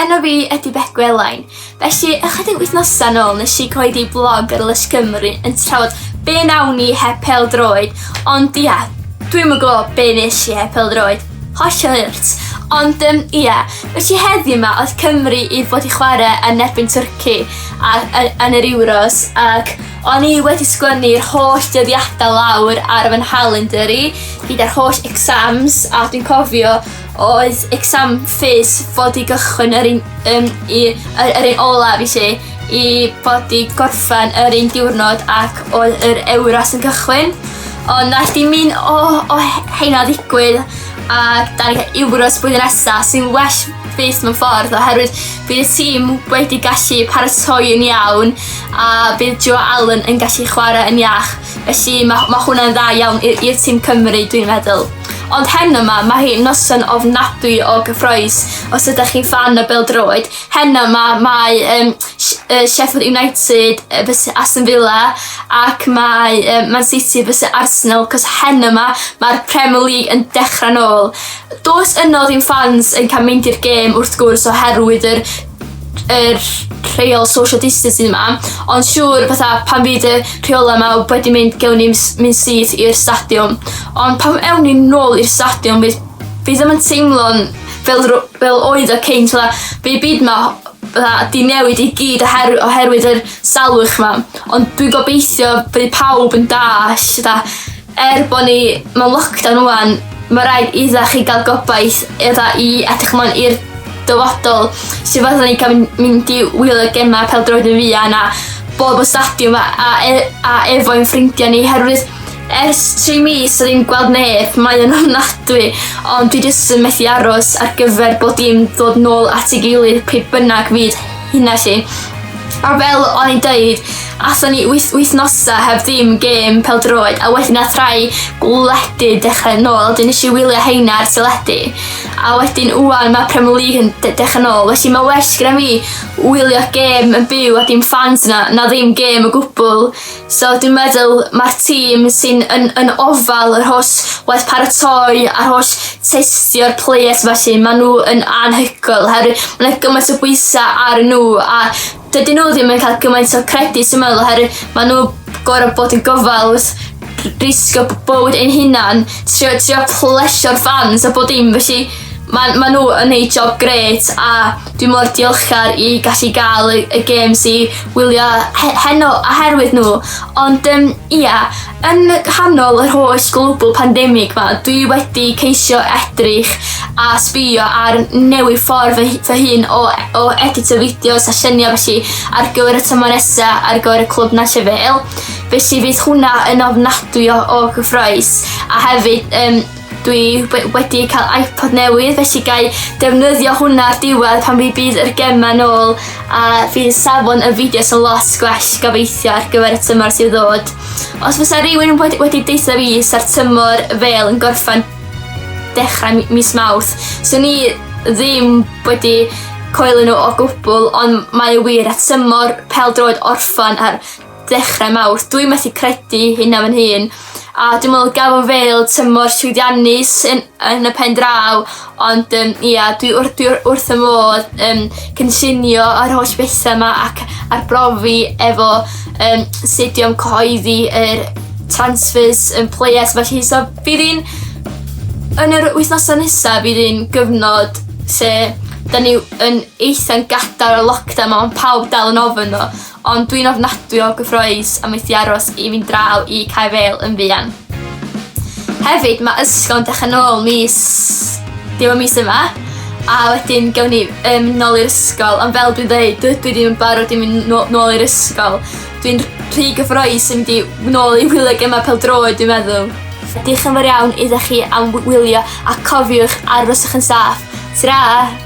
Enw fi ydy Beth Gwelain. Felly, ychydig wythnosau nôl nes i coed i blog ar Lys Cymru yn trafod be nawn ni heb pel droed, ond ia, dwi'n yn gwybod be nes i heb pel droed. Hollol hurt. Ond yym ie, felly heddiw 'ma oedd Cymru i fod i chwarae yn erbyn Twrci a- y- yn yr Euros ac o'n i wedi sgwennu'r holl dyddiadau lawr ar fy nhalinder i gyda'r holl exams a dwi'n cofio oedd exam fis fod i gychwyn yr un yym i y- yr un olaf i 'lly. i bod 'di gorffen yr un diwrnod ac oedd yr Euros yn cychwyn. Ond naeth dim un o, o heina ddigwydd ac da ni cael Euros blwyddyn nesa sy'n well fyth mewn ffordd oherwydd bydd y tîm wedi gallu paratoi yn iawn a bydd Joe Allen yn gallu chwarae yn iach. Felly mae, mae hwnna'n dda iawn i'r tîm Cymru dwi'n meddwl. Ond hen yma, mae hi noson ofnadwy o gyffroes os ydych chi'n fan y beldroed, Heno 'ma mae yym Sh- yy Sheffield United yy fys- Aston Villa ac mae yy Man City fys- Arsenal 'c'os heno 'ma ma'r Premier League yn dechra nôl. Do's yno ddim ffans yn ca'l mynd i'r gêm wrth gwrs oherwydd yr yr rheol social distancing 'ma ond siŵr fatha pan fydd y rheola' 'ma wedi mynd gewn ni ms- myn' syth i'r stadiwm. Ond pan ewn ni nôl i'r stadiwm fydd fi ddim yn teimlo'n fel dro- fel oedd y cynt fatha fi byd 'ma fatha 'di newid i gyd oher- oherwydd yr salwch 'ma ond dwi'n gobeithio bydd pawb yn dallt fatha er bo' ni mewn lockdown ŵan ma' raid idda chi ga'l gobaith idda i edrych mlaen i'r dyfodol lle fyddan ni ga'l myn- mynd i wylio gema pêl-droed yn fuan a bod y stadiwm a a e- a efo ein ffrindia ni herwydd Ers tri mis ddim gweld neb, mae yn ofnadwy, ond dwi jyst yn methu aros ar gyfer bod dim dod nôl at ei gilydd pe bynnag fyd hynna lle. A fel o'n i'n dweud, athon ni wyth, wythnosa heb ddim gêm peldroed a wedyn nath rhai gwledydd dechrau nôl, dyn nes i wylio heina ar teledu. A wedyn wwan mae Premier League yn de dechrau nôl, felly mae well gyda mi wylio gêm yn byw a dim fans yna na ddim gêm o gwbl. So dwi'n meddwl mae'r tîm sy'n yn, yn ofal yr holl waith paratoi a'r holl testio'r players felly, maen nhw yn anhygoel oherwydd mae yna gymaint o bwysau ar nhw a dydyn nhw ddim yn cael gymaint o credit sy'n meddwl oherwydd maen nhw gorau bod yn gofal risgo bywyd ein hunan, trio, trio plesio'r fans a bod dim felly maen ma nhw yn ei job gret a Dwi mor diolchgar i gallu gael y, y games i wylio he, heno oherwydd nhw. Ond um, ia, yn hanol yr holl global pandemig ma, dwi wedi ceisio edrych a sbio ar newid ffordd fy, fy hun o, o edito fideos a lluniau felly ar gyfer y tymor nesa ar gyfer y clwb Nant Llefel. Felly fydd hwnna yn ofnadwy o, o gyffroes a hefyd um, Dwi we- wedi cael iPod newydd felly gai defnyddio hwnna ar diwedd pan fi bydd yr gema nôl a fydd safon y fideos yn lot gwell gobeithio ar gyfer y tymor sydd ddod. Os fysa rhywun wedi, wedi deitha fi sa'r tymor fel yn gorffan dechrau mi- mis Mawrth, swn i ddim wedi coelio nhw o gwbl ond mae y wir at tymor pel droed orffan ar ddechre Mawrth dwi methu credu hynna fy nhun a dwi me'wl gafo fel tymor llwyddiannus yn yn y pen draw ond yym ia dwi wrth dwi wr- wrth fy modd yym cynllunio yr holl betha 'ma ac arbrofi efo yym sut i ymcyhoeddi yr transfers yn players felly so bydd 'i'n yn yr wythnosa nesa bydd 'i'n gyfnod lle 'dan ni yn eitha'n gadar o lockdown ma' pawb dal yn ofn o Ond dwi'n ofnadwy o gyffroes am methu aros i fynd draw i Cae Fêl yn fuan. Hefyd, mae ysgol yn dechrau nôl mis... Dim y mis yma. A wedyn gawn ni um, nôl i'r ysgol. Ond fel dwi'n dweud, dydw i ddim yn barod i mynd nôl i'r ysgol. Dwi'n rhy gyffroes i mynd i nôl i wylio gemau pel droed, dwi'n meddwl. Diolch yn fawr iawn iddo chi am wylio a cofiwch aroswch yn saff. Tra!